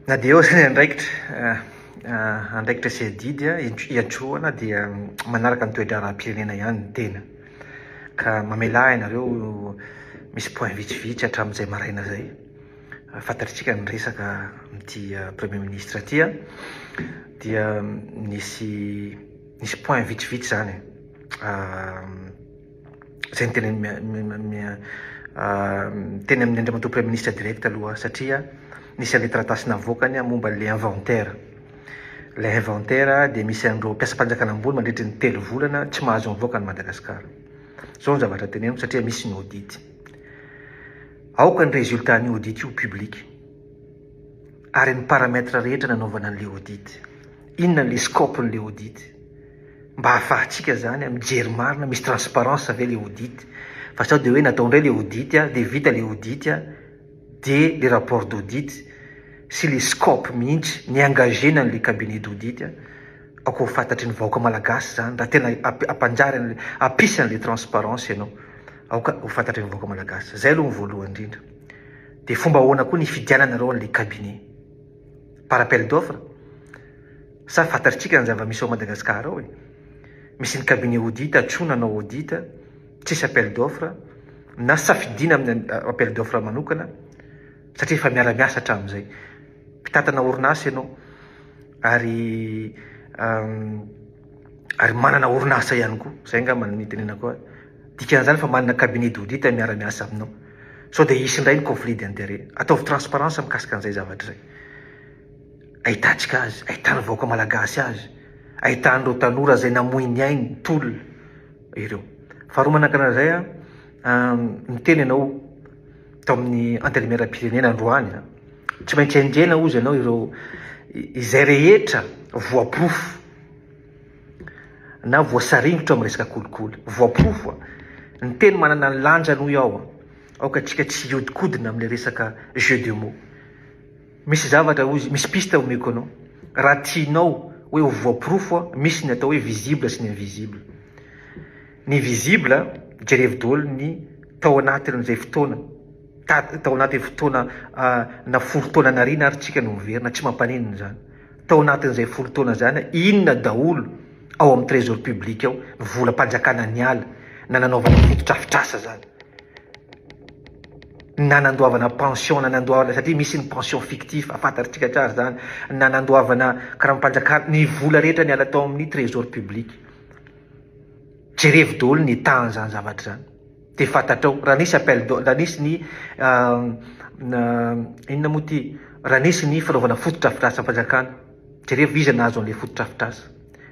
Na dia eo aza ny andraikitra, andraikitra sy adidy hiantrona dia manaraka ny toe-draharaham-pirenena ihany ny tena. Ka mamelà ianareo misy point vitsivitsy hatramin'izay maraina izay, fantatritsika ny resaka amin'ity Premier Ministre ity an, dia nisy nisy point vitsivitsy izany. Izay no tena teny amin'ny Andriamatoa Praiminisitra direct aloha satria nisy an'ilay taratasy navoakany momba an'ilay inventaire. Ilay inventaire dia misy an'ireo mpiasam-panjakana ambony mandritra ny telo volana tsy mahazo mivoaka an'i Madagasikara. Izao ny zavatra teneniko satria misy ny audit. Aoka ny résultat an'io audit io public. ary ny paramètre rehetra nanaovana an'ilay audit. Inona ilay scope n'ilay audit? Mba ahafahantsika izany mijery marina, misy transparence ve ilay audit? Fa sao dia hoe natao indray ilay audit, dia vita ilay audit, dia ilay rapport d'audit sy ilay scope mihitsy ni-engagena an'ilay cabinet d'audit, aoka ho fantatry ny vahoaka malagasy izany raha tena hampanjary an'ilay, hampisy an'ilay transparence ianao. Aoka ho fantatry ny vahoaka malagasy. Izay aloha ny voalohany indrindra. Dia fomba ahoana koa ny hifidiananareo an'ilay cabinet? Par appel d'offre? Sa fantatritsika ny zava-misy ao Madagascar ao e! Misy ny cabinet audit atro nanao audit, tsisy appel d'offre, na safidiana amin'ny appel d'offre manokana, satria efa miara-miasa hatramin'izay. Mpitantana orinasa ianao, ary ary manana orinasa ihany koa. Izay angamba no itenenako azy. Dikan'izany fa manana cabinet d'audit miara-miasa aminao. Sao dia hisy indray ny conflit d'intérêt. Ataovy transparence mikasika an'izay zavatra izay. Ahitantsika azy, ahitan'ny vahoaka malagasy azy, ahitan'ireo tanora izay namoy ny ainy, tolona, ireo. Faharoa manakana an'izay aho, niteny ianao tao amin'ny antenimieram-pirenena androany, tsy maintsy enjehina hozy ianao ireo izay rehetra voaporofo na voasaringotra amin'ny resaka kolikoly. Voaporofo. Ny teny manana ny lanjany hoy aho, aoka antsika tsy hihodinkodina amin'ny resaka jeu de mots. Misy zavatra hoy izy, misy piste omeko anao, raha tianao hoe ho voaporofo, misy ny atao hoe visible sy ny invisible. Ny visible, jerevo daholo ny tao anatin'izay fotoana, tao anatin'ny fotoana na folo taona nariana ary tsika no miverina, tsy mampaninona izany. Tao anatin'izay folo taona izany, inona daholo ao amin'ny trésor public ao no volam-panjakana niala na nanaovana fotodrafitrasa izany? Na nandoavana pension, na nandoavana, satria misy ny pension fictif, fantatritsika tsara izany, na nandoavana karampanjakana, ny vola rehetra niala tao amin'ny trésor public. Jerevo daholo ny état an'izany zavatra izany. Dia fantatrao, raha nisy appel d'offre, raha nisy ny inona moa ity, raha nisy ny fanaovana fotodrafitrasa fanjakana, jerevo iza nahazo an'ilay fotodrafitrasa?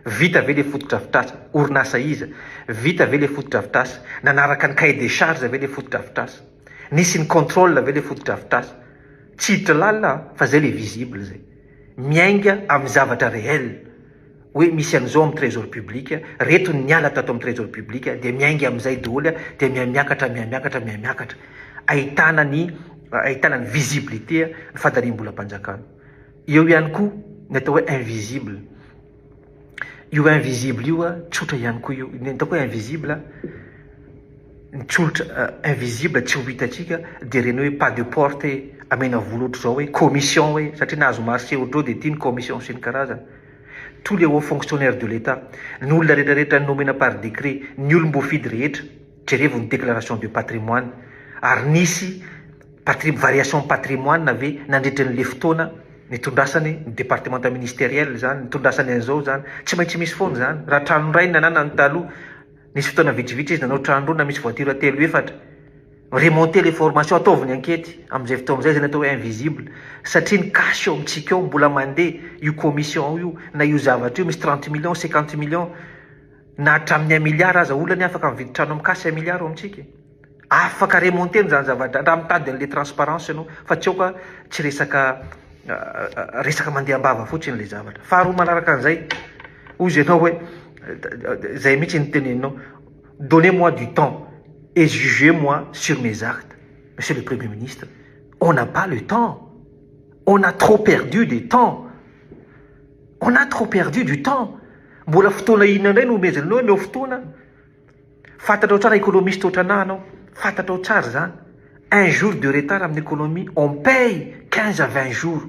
Vita ve ilay fotodrafitrasa? Orinasa iza? Vita ve ilay fotodrafitrasa? Nanaraka ny cahier des charges ve ilay fotodrafitrasa? Nisy ny contrôle ve ilay fotodrafitrasa? Tsy hiditra lalina an, fa izay ilay visible izay. Miainga amin'ny zavatra réel. hoe misy an'izao amin'ny trésor public, reto ny niala tato amin'ny trésor public, dia miainga amin'izay daholo, dia mihamiakatra, mihamiakatra, mihamiakatra. Ahitana ny, ahitana ny visibilité ny fandaniam-bolam-panjakana. Eo ihany koa ny atao hoe invisible. Io invisible io, tsotra ihany koa io. Ny atao hoe invisible, ny tsolotra invisible tsy ho hitantsika, dia ireny hoe pas de porte, amena vola ohatr'izao hoe commission hoe, satria nahazo marché ohatr'izao dia ity ny commission sy ny karazany. tous les hauts fonctionnaires de l'Etat, ny olona rehetra rehetra nomena par décret, ny olom-boafidy rehetra, jerevo ny déclaration de patrimoine, ary nisy patri- variation patrimoine ve nandritra ny le fotoana nitondrasany ny départementa ministériel zany, nitondrasany an'izao zany, tsy maintsy misy foana zany, raha trano iray ny nananany taloha, nisy fotoana vitsivitsy izy nanao trano roa na misy voiture telo efatra, Remonter les formations, ataovy ny ankety amin'izay fotoana izay izany atao hoe invisible satria ny cash ao amintsika ao mbola mandeha io commission io na io zavatra io misy trente millions, cinquante millions na hatramin'ny un milliard aza olona anie afaka mividy trano amin'ny cash un milliard ao amintsika e! Afaka remonter-na izany zavatra raha mitady an'ilay transparence ianao fa tsy aoka tsy resaka resaka mandeha am-bava fotsiny ilay zavatra. Faharoa manaraka an'izay, hoy izy ianao hoe izay mihitsy no teneninao, Donnez moi du temps et jugez moi sur mes actes Monsieur le Premier Ministre, on n'a pas le temps, on a trop perdu de temps, on a trop perdu du temps, mbola fotoana inona indray no omezana anao, omeo fotoana, fantatrao tsara economiste otranà anao, fantatrao tsara izany, un jour de retard amin'ny economie on paye quinze à vingt jours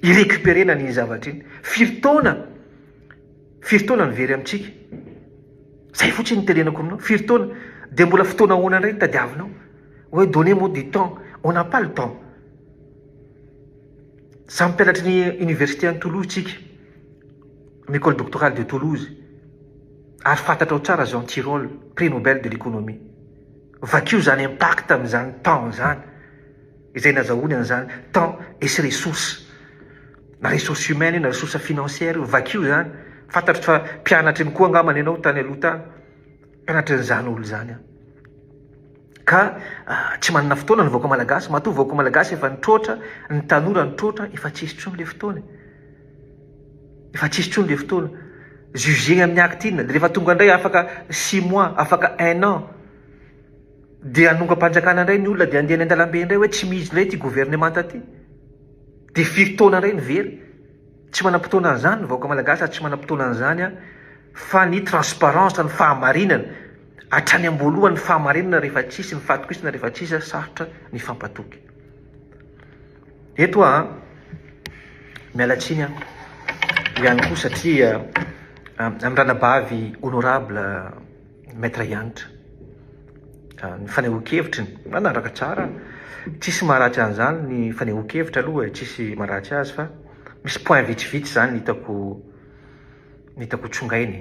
hi-recuperer-na an'iny zavatra iny, firy taona. Firy taona no very amintsika? Zay fotsiny no tenenako aminao, firy taona? Dia mbola fotoana ahoana indray no tadiavinao? Hoe donnez moi du temps, on n'a pas le temps. Samy mpianatry ny université any Toulouse tsika, am école doctorale de Toulouse, ary fantatrao tsara Jean Tirole, prix Nobel de l'économie. Vakio izany impact an'izany temps izany. izay nazahoany an'izany temps et sy ressources, na ressources humaines io na ressources financières io, vakio izany, fantatro fa mpianatra ihany koa angambany ianao tany aloha tany, mpianatra an'izany olona izany aho, ka tsy manana fotoana ny vahoaka malagasy, matoa vahoaka malagasy efa nitroatra, ny tanora nitroatra, efa tsy hisy intsony ilay fotoana e, efa tsy hisy intsony ilay fotoana, jugé amin'ny acte inona, dia rehefa tonga indray afaka six mois, afaka un an, Dia hanongam-panjakana indray ny olona dia handeha any an-dalambe indray hoe tsy mihitsy indray ity governemanta ity. Dia firy taona indray ny very? Tsy manam-potoana an'izany ny vahoaka malagasy ary tsy manam-potoana an'izany aho fa ny transparence, ny fahamarinana, hatrany am-boalohany ny fahamarinana rehefa tsy hisy, ny fahatokisana rehefa tsy hisy, sarotra ny hifampatoky. Eto aho miala tsiny aho ihany koa satria amin'ny ranabavy honorable Maître Hanitra ka ny fanehoan-kevitry ny na nandraka tsara tsisy maharatsy an'izany ny fanehoan-kevitra aloha e, tsisy maharatsy azy fa misy point vitsivitsy zany hitako hitako tsongainy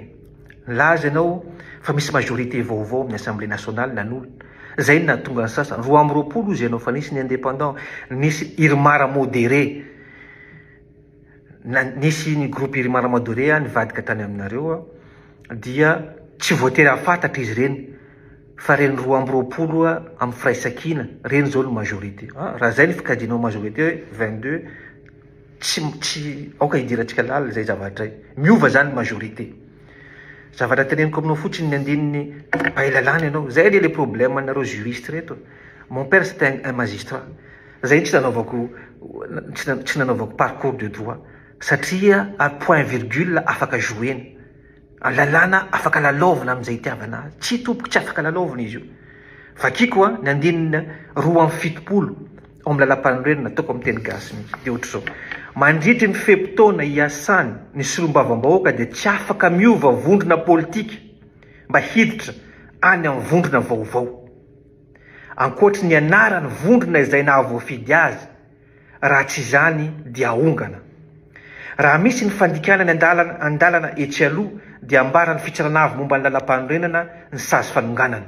nilaza ianao fa misy majorité vaovao amin'ny assemblée nationale nanolo zay no nahatonga ny sasany roa amby roapolo ozy ianao fa nisy ny indépendant nisy irmar modéré na nisy ny groupe iry maramado iry nivadika tany aminareo dia tsy voatery hahafantatra izy ireny fa ireny roa amby roapolo amin'ny firaisankina ireny izao no majorité ah, raha izay ny fikajianao majorité 22 tsy tsy aoka hidirantsika lalina izay zavatra izay miova izany ny majorité zavatra teneniko aminao fotsiny ny andininy bay lalàna ianao izay anie le problème anareo juriste reto mon père c'est un magistrat Zay tsy nanaovako tsy nanaovako parcours de droit satria ary point virgule afaka jouena ary lalàna afaka lalaovina amin'izay itiavana azy tsy tompoko tsy afaka lalaovina izy io vakiko a ny andininy roa amby fitopolo ao amin'ny lalampanorenana ataoko amin'ny teny gasy mihitsy dia ohatr'izao mandritry ny fe-potoana hiasany ny solombavambahoaka dia tsy afaka miova vondrona politika mba hiditra any amin'ny vondrona vaovao ankoatry ny anarany vondrona izay nahavoafidy azy, raha tsy izany dia aongana. Raha misy ny fandikana ny andalana andalana etsy aloha dia ambaran'ny fitsarana avy momba ny lalampanorenana ny sazy fanonganana.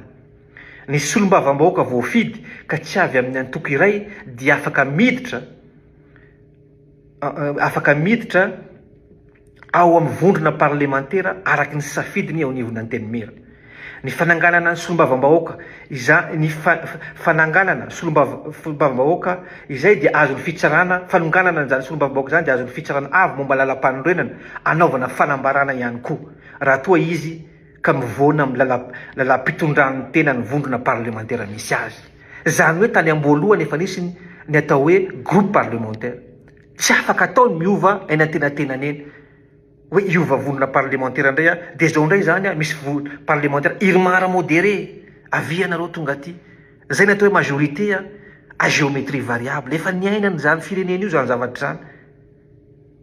Ny solombavambahoaka voafidy ka tsy avy amin'ny antoko iray dia afaka miditra afaka miditra ao amin'ny vondrona parlemantera araky ny safidiny eo anivon'ny Antenimiera. Ny fananganana ny solombavambahoaka iza, ny fananganana solombavambahoaka izay dia azon'ny fitsarana, fanonganana an'izany solombavambahoaka izany dia azon'ny fitsarana avy momba lalam-panorenana anaovana fanambarana ihany koa raha toa izy ka mivoana amin'ny lalam-pitondran'ny tena ny vondrona parlemantera misy azy. Izany hoe tany am-boalohany efa nisy ny atao hoe groupe parlementaire. Tsy afaka atao ny miova eny antenatenany eny, hoe hiova vondrona parlemantera indray aho, dia izao indray izany misy parlemantera Irmar modéré, avia ianareo tonga aty. Izay ny atao hoe majorité à géométrie variable. Efa niainana izany firenena io izany zavatra izany.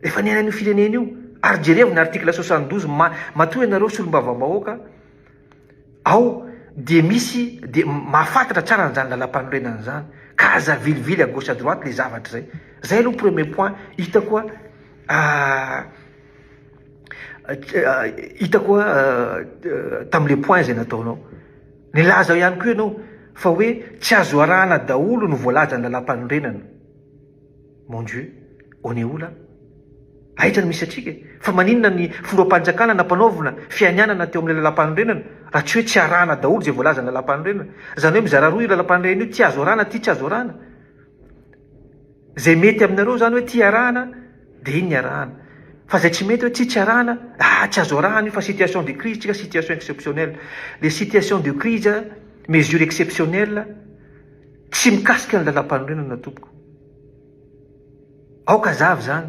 Efa niaina an'io firenena io ary jerevo ny article soixante douze ma matoa ianareo solombavambahoaka ao dia misy dia mahafantatra tsara an'izany lalampanorenana izany ka aza vilivily à gauche à droite le zavatra izay zay aloha premier point hitako hitako tamle point izay nataonao nilaza ao ihany koa ianao fa hoe tsy azo arahana daholo ny voalazan'ny lalampanorenana Mon Dieu! On est où là? Aiza no misy antsika e? Fa maninona ny Foropanijakana nampanaovina fianianana teo amin'ilay Lalampanorenana raha tsy hoe tsy arahana daholo izay voalazan'ny Lalampanorenana? Izany hoe mizara roa io Lalampanorenana io, ity azo arahana, ity tsy azo arahana. Izay mety aminareo izany hoe ity arahana dia iny ny arahana. Fa izay tsy mety hoe ity tsy arahana, ah tsy azo arahana io fa situation de crise tsika, situation exceptionnelle. Le situation de crise, mesure exceptionnelle, Tsy mikasika ny lalampanorenana tompoko. Aoka azava izany.